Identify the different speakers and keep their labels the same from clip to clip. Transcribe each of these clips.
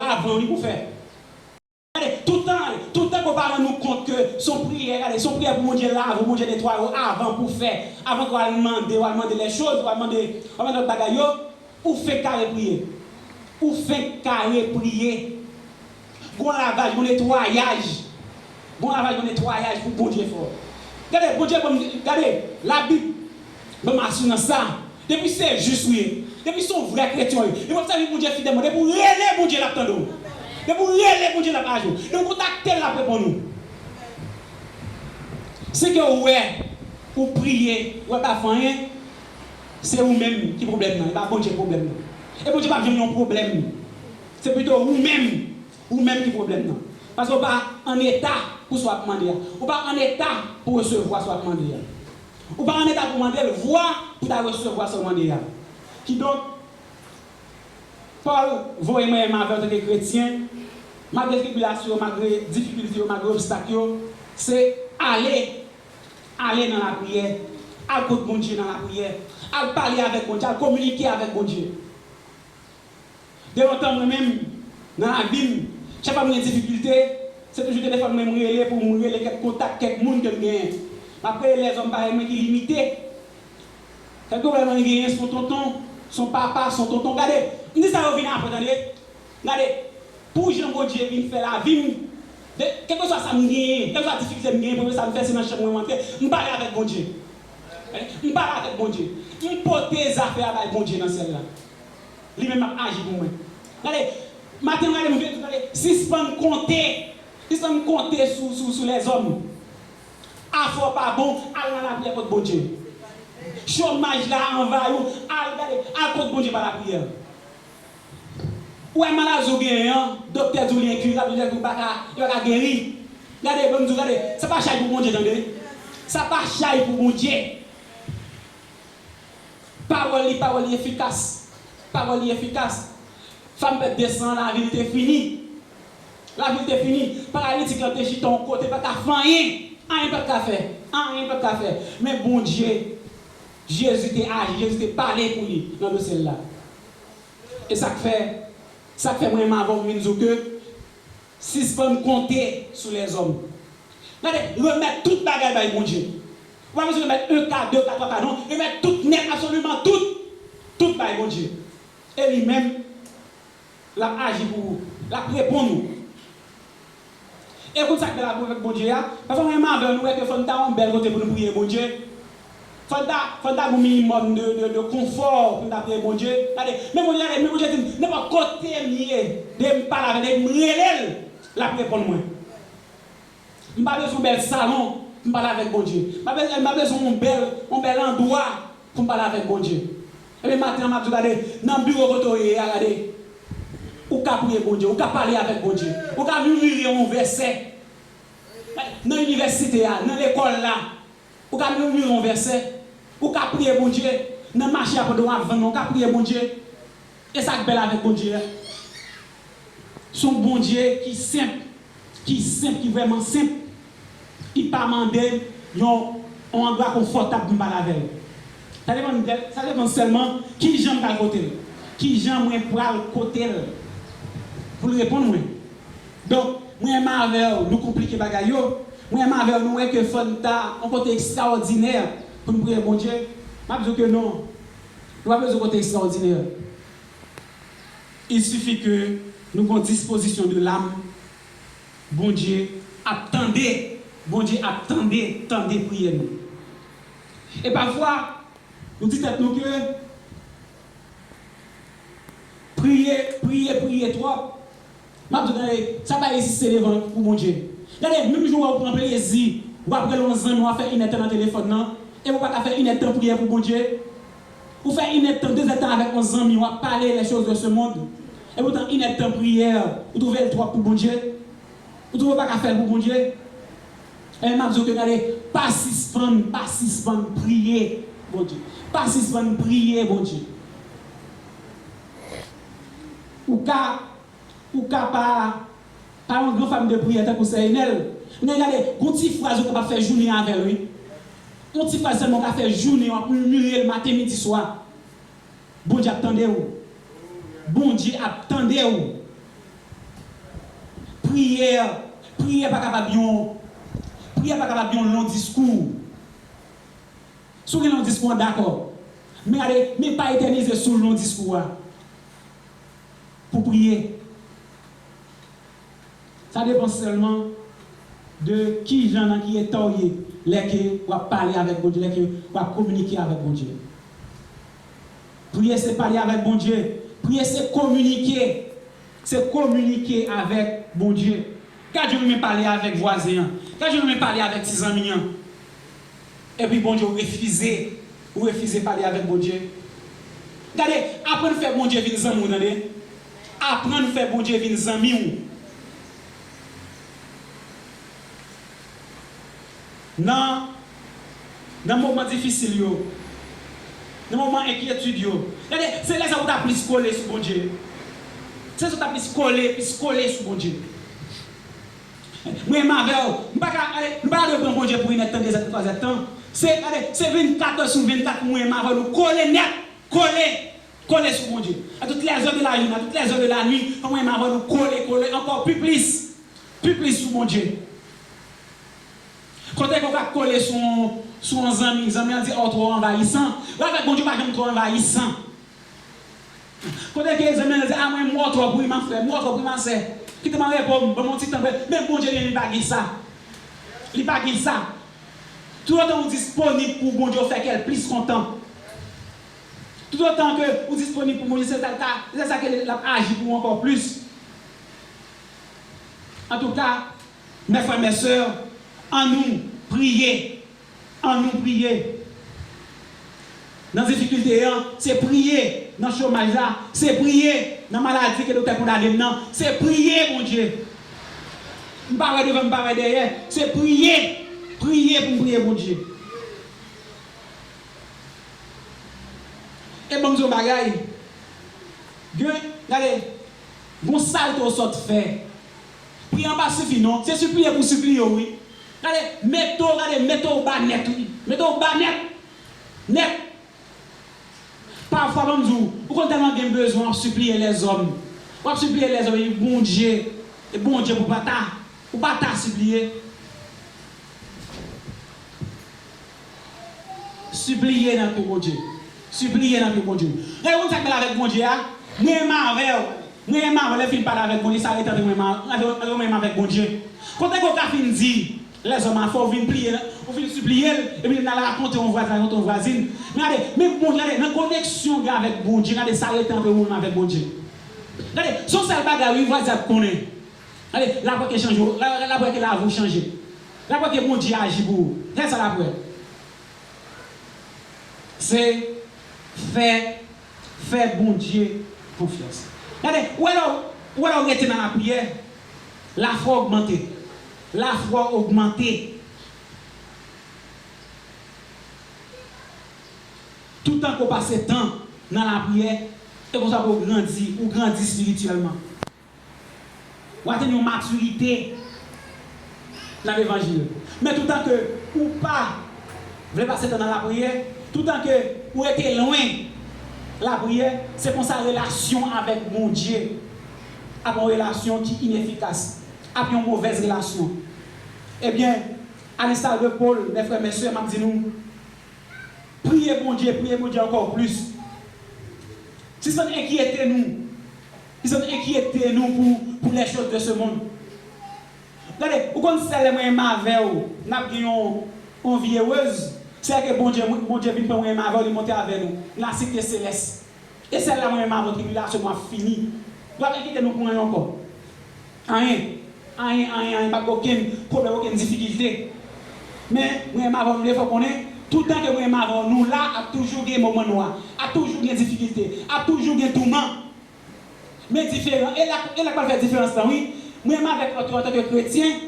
Speaker 1: Pa bon li pou fè. Gade, toutan, toutan ke w pa rann ou kont ke s on priyè, gade, s on priyè pou Bondye lave w, Bondye netwaye w avan pou w fè, avan ke w al mande, w al mande lè choz, w al mande, w al mande lòt bagay yo, ou fenk kare priye. Ou fenk kare priye. Gen yon lavaj, gen yon netwayaj. Gen yon lavaj, gen yon netwayaj pou Bondye fè w. Gade, Bondye ban m, gade, Labib. Banm assurance la Depi se jus ou ye Depi son vrè kretyen ou ye Depi wap sèvi Bondye fidèlman Depi ou rele Bondye lap tande ou Depi ou rele Bondye lap aji ou Depi ou kontaktel lap reponn ou Se ke ou wè Ou priye Ou wè pap fè anyen Se ou menm ki pwoblèm nan E pa Bondye ki pwoblèm nan E Bondye pap janm yon pwoblèm Se pito ou menm Ou menm ki pwoblèm nan Paske ou pa an eta pou sa wap mande a Ou pa an eta pou resevwa sa wap mande a. Ou pa an eta pou mande l vwa pou ta resevwa sa w mande a. Kidonk, Pòl voye mwen menm avè w tanke kretyen, malgre tribilasyon yo, malgre difikilte yo, malgre obstak yo, se ale, ale nan lapriyè, al kot Bondye nan lapriyè, al pale avèk Bondye, al kominike avèk Bondye. De lontan mwen menm nan lavi m, chak fwa m gen difikilte, se toujou telefòn mwen m rele pou m rele kèk kontak, kèk moun ke m genyen. M ap rele lèzòm parèy mwen ki limite. Sèl pwoblèm mwen genyen s on tonton, s on papa, s on tonton. Gade, m di sa yo vin apre tande. Gade, pou jan Bondye vin fè lavi m, de, kèlkeswa sa m genyen, kèlkeswa difikilte m genyen, premye sa m fè se nan chanm mwen m antre, m pale avèk Bondye. M pale avèk Bondye. M pote zafè a bay Bondye nan syèl la. Li menm ap aji pou mwen. Gade, maten m gade m vin gade, sispann konte, sispann konte sou sou sou lèzòm. Afè w pa bon, al nan lapriyè kot Bondye. Chomaj la anvayi w, al gade, al kot Bondye pa lapriyè. Ou wè maladi w genyen an, doktè di w li enkirab, doktè di w pa ka, li pa ka geri. Gade, ban m di w, gade, sa pa chay pou Bondye tande. Sa pa chay pou Bondye. Pawòl li pawòl li efikas Pawòl li efikas Fanm pèp 200 an lavi l te fini Lavi l te fini Paralitik lan te chita yon kote pa t ka fè anyen Anyen pa t ka fè Anyen pa t ka fè Men Bondye Jezi te aji Jezi te pale pou li nan dosye l la E sa k fè Sa k fè mwen menm avè w m vin di w ke Sispann konte sou lèzòm. Tande, remèt tout bagay bay Bondye. Ou pa bezwen remèt 1 ka, 2 ka, 3 ka non. Remèt tout nèt, absoliman tout. Tout bay Bondye. E li menm, l ap aji pou ou. L ap reponn ou. E ou konn sa k bèl ak Bondye a? Pafwa mwen e madanm nou wè ke fò n ta yon bèl kote pou nou priye Bondye. Fòk ta fòk ta gen yon minimòm de de de konfò pou n ta priye Bondye. Gade, men Bondye gade, men Bondye di m, nenpòt kote m ye, depi m pale avè l, depi m rele l, l ap reponn mwen. M pa bezwen yon bèl salon pou m pale avèk Bondye. M pa bezwen m pa bezwen yon bèl yon bèl andwa pou m pale avèk Bondye. Ebyen maten an m ap di w gade, nan biwo kote w ye a gade, ou ka priye Bondye, ou ka pale avèk Bondye, ou ka mimire yon vèsè. Nan inivèsite a, nan lekòl la, Ou ka murmure yon vèsè. Ou ka priye Bondye. Nan mache a pandan w ap vann nan ou ka priye Bondye. E sa k bèl avèk Bondye a? S on Bondye ki senp, ki senp, ki vrèman senp. Li pa mande yon andwa konfòtab pou m pale avè l. Sa depann de, sa depann sèlman ki jan m pral kote l. Ki jan mwen pral kote l pou l reponn mwen. Donk, mwen menm avè w, nou konplike bagay yo. Mwen menm avè w, nou wè ke fò n ta yon kote ekstraòdinè pou n priye Bondye. M ap di w ke non. Nou pa bezwen kote ekstraòdinè. Il suffit ke nou gen yon dispozisyon de lam, Bondye ap tande, Bondye ap tande, tande priyè nou. E pafwa, nou di tèt nou ke priye, priye, priye twòp. Map diw gade sa bay isit se devan pou Bondye gade menm jan wè ou pran plezi wap rele yon zanmi wap fè inèdtan nan telefòn nan epi ou paka fè inèdtan priyè pou Bondye ou fè inèdtan dezèdtan avèk yon zanmi wap pale les choses de ce monde epi poutan inèdtan priyè ou twouvel twòp pou Bondye ou twouve ou paka fèl pou Bondye ebyen map diw ke gade pa sispann pa sispann priye Bondye pa sispann priye Bondye. Ou ka Ou ka pa Pa yon gran fam de priyè tankou sè Enèl Men gade Gon ti fraz ou kapab fè jounen avèl wi Yon ti fraz sèlman ou ka fè jounen wap murmurel maten midi swa Bondye ap tandew Bondye ap tandew Priyè Priyè pa kapab yon Priyè pa kapab yon long diskou Si w gen long diskou an, dakò. Men gade, men pa etènize sou long diskou a pou priye. Sa depan sèlman de ki jan, nan ki eta w ye lè ke w ap pale avèk Bondye, lè ke w ap kominike avèk Bondye. Priye se pale avèk Bondye. Priye se kominike. Se kominike avèk Bondye. Gad jan w renmen pale avèk vwazen an. Gad jan w renmen pale avèk ti zanmi an. Epi Bondye ou refize ou refize pale avèk Bondye gade aprann fè Bondye vin zanmi w tande aprann fè Bondye vin zanmi w nan nan moman difisil yo nan moman enkyetid yo gade se lè sa ou ta plis kole sou Bondye se lè sa ou ta plis kole plis kole sou Bondye. Mwen menm avèw m paka gade nou paka dwe pran Bondye pou inèd tan 2 zèt pou 3 zèt tan se gade se 24 èd sou 24 mwen menm avèw nou kole nèt kole kole sou Bondye a tout lè zè de la joune a tout lè zè de la nwi mwen menm avèw nou kole kole ankò pi plis pi plis sou Bondye kote ke w ka kole sou yon sou yon zanmi zanmi an di a w twò anvayisan wè avèk Bondye w pa janm twò anvayisan Kote ki egzamen an? Li di, a mwen mò twòp wi ma frè, mò twòp wi ma sè. Kite m an repo m, ban m yon ti tan pou mwen. Men Bondye li menm li pa gen sa. Li pa gen sa. Toutotan ou disponib pou Bondye ou fè kè l plis kontan. Toutotan ke ou disponib pou Bondye se sa l ka, se lè sa ke l ap aji pou ou ankò plis. Antouka, mè frè mè sè, annou priye An nou priye Nan difikilte an Se priye Nan chomaj la Se priye Nan maladi ke doktè kondane m nan Se priye Bondye M pa wè devan m pa wè dèyè Se priye Priye pou m priye Bondye E ban m di yon bagay Gen Gade Gon salte w sot fè Pri an pa sifi non, se sipliye pou sipliye w wi. Gade, mete w, gade, mete w ba nèt wi. Mete w ba nèt! Nèt! Pafwa ban m di w, ou konn tèlman gen bezwen w ap sipliye lèzòm. W ap sipliye lèzòm epi Bondye, e Bondye pou pa ta, pou pa ta sipliye. Sipliye nan tou Bondye. Sipliye nan tou Bondye. Gade moun sak pale avek Bondye a, mwen menm avew, mwen menm avew lè fin pale avek Bondye sa rete antre mwen menm avek avek Bondye. Kote ke w ka fin di lèzòm afè w fin pliye nan, ou fin sipliye l epi li al rakonte yon vwazen rakonte yon vwazin. Men gade, men Bondye gade nan koneksyon gen avek Bondye gade sa rete antre ou menm avek Bondye. Gade, son sèl bagay wi vwazen ap konnen. Ale, l ap wè ke chanje ou. L ap wè ke lavi ou chanje. L ap wè ke Bondye aji pou ou. Gad sa l ap wè. Se, Fè, fè Bondye konfyans. Gade, ou wè lè w, ou wè lè w rete nan lapriyè, lafwa w ogmante. Lafwa w ogmante. Toutan ke w pase tan nan lapriyè, se konsa ke w grandi. Ou grandi espirityèlman. W atenn yon matirite nan levanjil. Men toutan ke ou pa vle pase tan nan lapriyè, toutan ke ou rete lwen lapriyè, se konsa relasyon avèk Bondye ap yon relasyon ki inefikas, ap yon movèz relasyon. Ebyen, alenstar de Pol, mè frè mè sè, m ap di nou, priye Bondye, priye Bondye ankò plis. Sispann enkyete nou Pise n enkyete nou pou pou les choses de ce monde. Gade, ou konn sè lè mwen enm avè w n ap gen yon yon vi erez, se lè ke Bondye mwen Bondye vin pran mwen enm avè w li monte avè nou nan site selès. E sè la mwen enm avè w tribilasyon nou ap fini. W ap enkyete nou pou anyen ankò. Anyen. Anyen, anyen, anyen, pa gen okenn pwoblèm, okenn difikilte. Men, mwen enm avè w mde fè w konnen, toutan ke mwen enm avè w nou la ap toujou gen moman nwa, ap toujou gen difikilte, ap toujou gen touman. Men diferan, e la e la pral fè diferans lan wi. Mwen menm avèk antou antanke kretyen,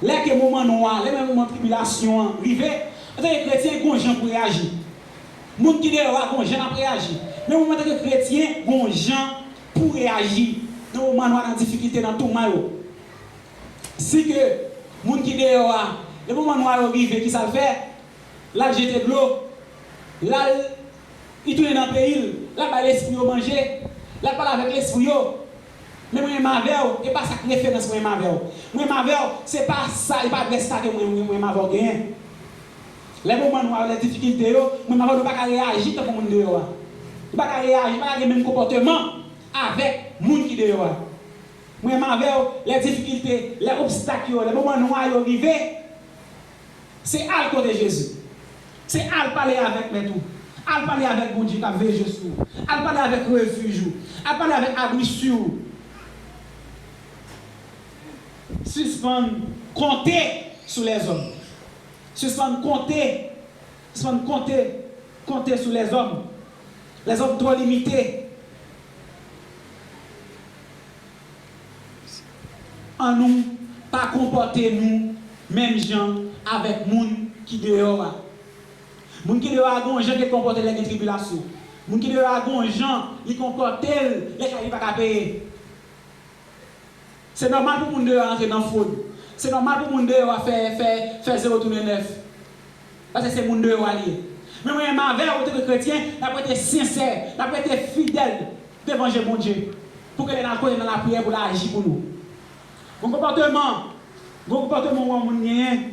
Speaker 1: lè ke moman nwa a, lè menm moman tribilasyon an rive, antanke kretyen gon jan pou reyaji. Moun ki deyò a gon jan nap reyaji. Men mwen menm antanke kretyen gon jan pou reyaji nan moman nwa, nan difikite, nan touman yo. Si ke moun ki deyò a, lè moman nwa yo rive kisa l fè? Lap jete dlo, lal li tounen nan peyil, lap bay lespri yo manje, lap pale avèk lespri yo, men mwen menm avèw e pa sak referans mwen menm avèw, mwen menm avèw se pa sa e pa adrès sa ke mwen menm avèw genyen. Lè moman nou a yo lè difikilte yo, mwen menm avèw nou paka reyaji tankou moun deyò a. Nou paka reyaji, nou paka gen menm konpòteman avèk moun ki deyò a. Mwen menm avèw lè difikilte, lè obstak yo, lè moman nwa yo rive, Se al kote Jezi. Se al pale avèk Mèt ou. Al pale avèk Bondye k ap veje sou ou. Al pale avèk refij ou. Al pale avèk abri si ou. Sispann konte sou lèzòm. Sispann konte, sispann konte, konte sou lèzòm. Lèzòm twò limite. An nou pa konpòte nou menm jan avèk moun ki deyò a. Moun ki deyò a gen yon jan ke l konpòte l lè gen tribilasyon. Moun ki deyò a gen yon jan li konpòte l lè kay li pa ka peye. Se nòmal pou moun deyò a antre nan fwod. Se nòmal pou moun deyò a fè fè fè zewo tounen nèf. Pase se moun deyò a li ye. Men mwen menm avè w antanke kretyen, n ap rete sensè, n ap rete fidèl devan je Bondye pou ke lè n al konnen nan lapriyè pou l aji pou nou. Gon konpòteman, gon konpòteman ou an moun genyen.